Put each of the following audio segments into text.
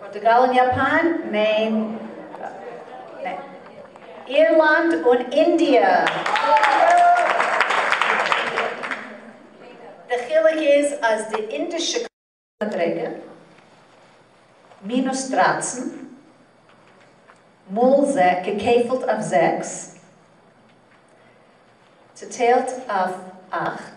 פארטוגאל און יאפאן. מעין, אירלאנד און אינדיע. די חילוק איז אז די אינדישע. מדרגה, מינוס דרײַצן, מאל געקעפלט אויף זעקס, צעטיילט אויף אַכט,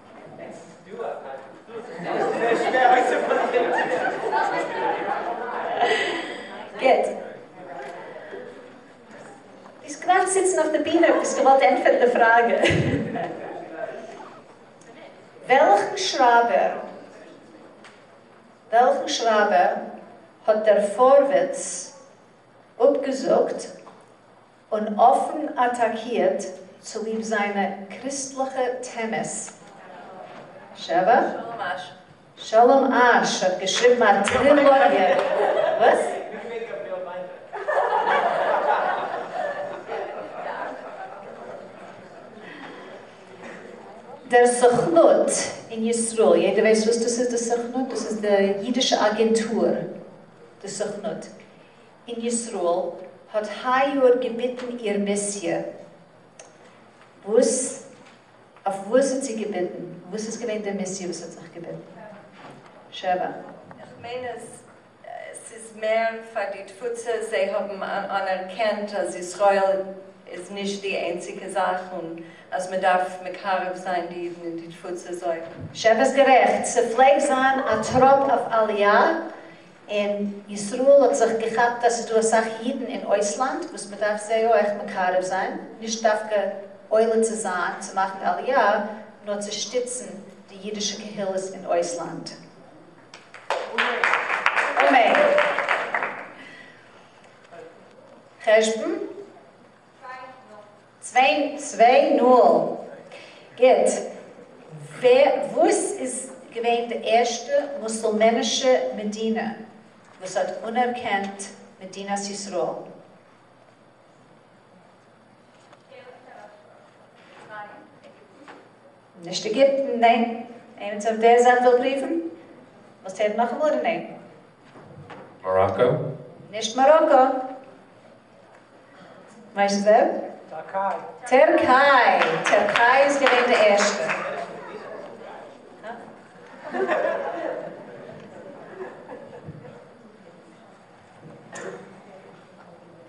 גוט. ביסט געווארט זיצן אויף די בינע אויב ביסט געוואלט ענטפערן די פראגע. וועלכן שרייבער וועלכן שרייבער האט דער פארווערטס אפגעזאגט? און אפן אטאקירט צוליב זיינע קריסטליכע טענות. שבח? שלום אש. שלום אש האט געשריבן, א טרילאגיע. וואס? דער סוכנות אין ישראל, יעדער ווייסט וואס דאס איז די סוכנות? דאס איז די אידישע אגענטור די סוכנות. אין ישראל האט היי יאר געביטן איר מיסיע, וואס אויף וואס האט זי געביטן? וואס איז געווען די מיסיע וואס האט זיך געביטן? שבע. איך מיין אז ס'איז מער פאר די תפוצה, זיי האבן אנערקענט אז ישראל איז נישט די איינציגע זאך און אז מ'דארף מקרב זיין די אידן אין די תפוצה זאל. שבע איז גערעכט, ס'פלעגט זיין א טראפ אויף עליה, אין ישראל האט זיך געכאפט אז ס'איז דא אסאך אידן אין אויסלאנד וואס מ'דארף זיי אויך מקרב זיין, נישט דווקא עולה צו זיין צו מאכן עלייה, נאר צו שטיצן די אידישע קהילות אין אויסלאנד. אמן. חשבון. צוויי נול. גוט. וואס איז געווען די ערשטע מוסולמענישע מדינה וואס האט אנערקענט מדינת ישראל? נישט עגיפטן, ניין. איינער צו דער זייט וויל פריוון? ווילסט הערן נאכאמאל אדער ניין? מאראקא? נישט מאראקא. ווייסט ווער? טערקיי. טערקיי! טערקיי איז געווען די ערשטע.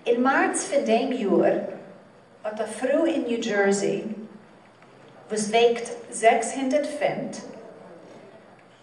אין מארץ פון דעם יאר האט א פרוי אין ניו דזשערסי וואס וועגט זעקס הונדערט פונט,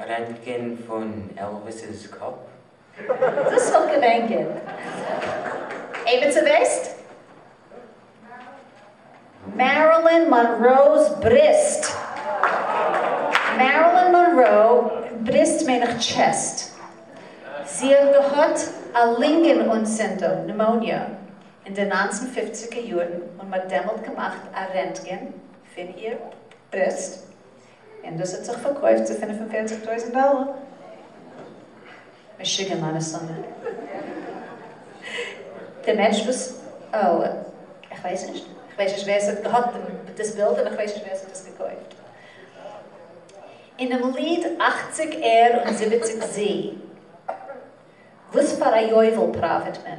רענטגען פון עלוויס'ס קאפ. דאס וואלט געווען גוט. עימיצער ווייסט? מערילין מאנראו'ס בריסט. מערילין מאנרא, בריסט מיין איך טשעסט. זי האט געהאט א לינגען אנצינדונג, נעמאוניע, אין די נײַנצן פֿופֿציגער יארן און מ'האט דעמאלט געמאכט א רענטגען פון איר בריסט. און דאס האט זיך פארקויפט צו פֿינף און פֿערציק טויזנט דאלער. משוגע מיינע סומע. דער מענטש וואס, אוי, איך ווייס נישט. איך ווייס נישט ווער עס האט געהאט דאס בילד און איך ווייס נישט ווער עס האט עס געקויפט. אינעם ליד אַכציק ער און זיבעציק זי, וואס פאר א יובל פראפיט מען?